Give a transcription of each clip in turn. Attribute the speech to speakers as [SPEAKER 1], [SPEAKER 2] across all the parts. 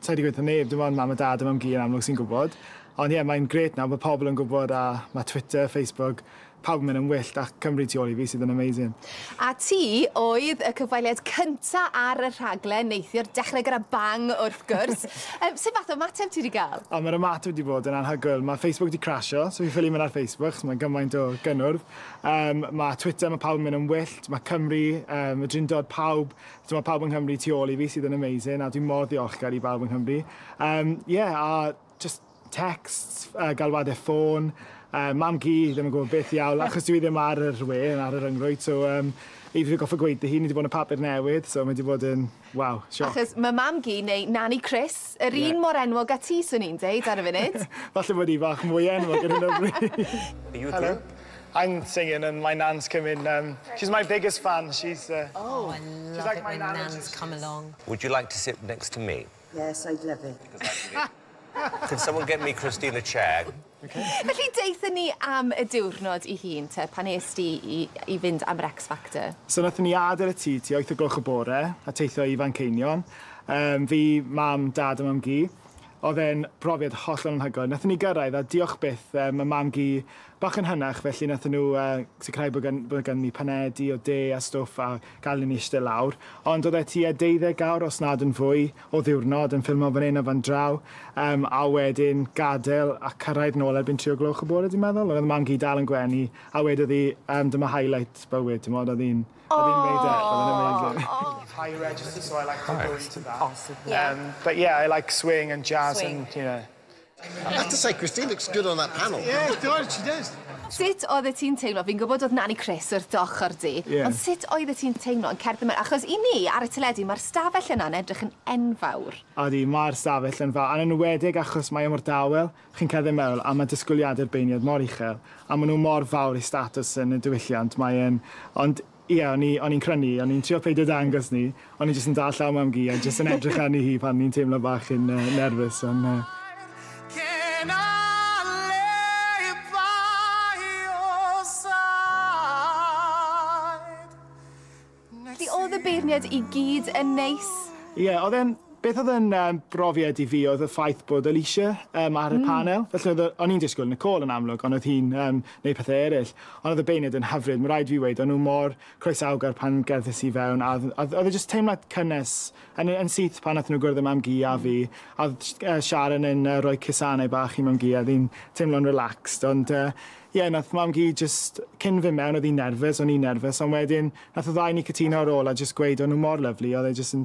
[SPEAKER 1] Sa i 'di gweud 'tha neb, dim ond mam a dad a mam-gu yn amlwg sy'n gwybod. Ond ie, mae'n grêt nawr, mae pobl yn gwybod a mae Twitter, Facebook, pawb yn mynd yn wyllt ac Cymru tu ôl i fi sydd yn amazing. A ti
[SPEAKER 2] oedd y cyfweliad cynta ar y rhaglen neithiwr, dechrau gyda bang wrth gwrs. Yym, sut fath o ymateb ti 'di gael? O, mae'r ymateb wedi bod yn
[SPEAKER 1] anhygoel. Mae Facebook 'di crasio, so fi ffili mynd ar Facebook achos mae gymaint o gynnwrf. Yym, mae Twitter, mae pawb yn mynd yn wyllt, mae Cymru, yym, y Drindod, pawb Dyma pawb yng Nghymru tu ôl i fi sydd yn amazing a dwi mor ddiolchgar i bawb yng Nghymru. Um, yeah, a just texts, uh, galwadau ffôn, uh, mam gi, ddim yn gwybod beth iawn, achos dwi ddim ar yr we, ar yr yngrwyd, so um, i fi goffa gweud hi, ni wedi bod yn y papur newydd, so mae wedi bod yn, waw, sioc. Achos mae mam gi, neu
[SPEAKER 2] Nani Chris, yr yeah. un mor enwog a ti, swn i'n deud, ar y funud. Falle bod i fach
[SPEAKER 1] mwy enwog yn hyn o bryd. Hello.
[SPEAKER 3] I'm singing and
[SPEAKER 1] my nan's come in erm she's my biggest fan she's the Oh
[SPEAKER 4] I love it when nans
[SPEAKER 1] come along.
[SPEAKER 4] Would you like to sit
[SPEAKER 3] next to me? Yes I'd love it. Can someone get me Christine a chair? Felly
[SPEAKER 2] deutha ni am y diwrnod i hun te pan es di i i fynd am yr X Factor? So nathon ni adel y
[SPEAKER 1] tŷ tua wyth o gloch y bore a teithio i Fanceinion erm fi, mam, dad a mam-gu. Odd e'n brofiad hollol anhygoel. Nathon ni gyrraedd a diolch byth erm ma' mam-gu Bach yn hynach, felly nathon nhw yy sicrhau bod gan- bod ganddi panedi o de a stwff a galon ni ishte lawr. Ond o'dd e tua deuddeg awr, os nad yn fwy, o ddiwrnod yn ffilmo fan 'yn a fan draw, yym a wedyn gadel a cyrraedd nôl erbyn tri o gloch y bore dwi'n meddwl, ond o'dd mam gyd dal yn gwenu, a wedodd hi yym dyma highlight bywyd t'mod o'dd hi'n o'dd hi'n weud e, o'dd e'n amazing. High register so I like to go into that. Yym but yeah I like swing and jazz and you know. I have to
[SPEAKER 5] say, Christine looks good on that panel. Yeah, it does, she
[SPEAKER 1] does. Sut oeddet ti'n
[SPEAKER 2] teimlo, fi'n gwybod oedd Nani Chris wrth dy ochr di, yeah. ond sut oeddet ti'n teimlo yn cerdded mewn, achos i ni ar y teledu mae'r stafell yna'n edrych yn enfawr. Odi, mae'r
[SPEAKER 1] stafell yn fawr, yn enwedig achos mae e mor dawel, chi'n cerdded mewn a mae disgwyliadau'r beirniad mor uchel, a maen nhw mor fawr i statws yn y diwylliant, mae e'n, ond Ie, o'n i, o'n i'n crynu, o'n i'n trio peidio dangos 'ny, o'n i jyst yn dal llaw Mam-gu a jyst yn edrych arni hi pan o'n i'n teimlo bach yn yy nerfus on yy.
[SPEAKER 2] Felly o'dd y beirniad i gyd yn neis? Ie, o'dd e'n,
[SPEAKER 1] beth o'dd yn yym brofiad i fi o'dd y ffaith bod Alisha yym ar y panel, felly o'dd y, o'n i'n disgwl Nicole yn amlwg on' o'dd hi'n yym neud pethe eryll. Ond oedd y beunid yn hyfryd, ma' raid fi weud, o'n nhw mor croesawgar pan gerddais i fewn a dd- a dd- oedd e jyst teimlad cynnes yn y- yn syth pan nathon nhw gwrdd â Mam-gu a fi a oedd sh- yy Sharon yn yy rhoi cusanau bach i Mam-gu a oedd hi'n teimlo'n relaxed ond yy ie nath Mam-gu jyst cyn fyn' mewn oedd hi'n nerfus o'n i'n nerfus ond wedyn nath y ddau o ni cytuno ar ôl a jyst gweud o'n nhw mor lyfli oedd e jyst yn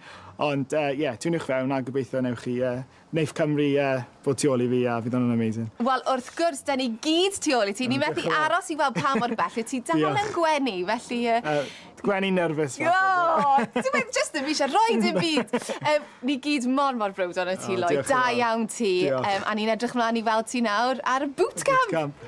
[SPEAKER 1] Ond yy ie, tuniwch fewn a gobeithio newch chi yy neith Cymru yy fod tu ôl i fi a fydd hwnna'n amazing. Wel wrth gwrs, 'da ni gyd tu ôl i ti, ni methu aros i weld pa mor bell wyt ti dal yn gwenu, felly yy... Yy, gwenu nerfus falle. O! Dyw e
[SPEAKER 2] jyst ddim isie rhoi dim byd! Yym, ni gyd mor mor browd ohono ti Lloyd, da iawn ti, yym a ni'n edrych mlan i weld ti nawr ar y boot camp!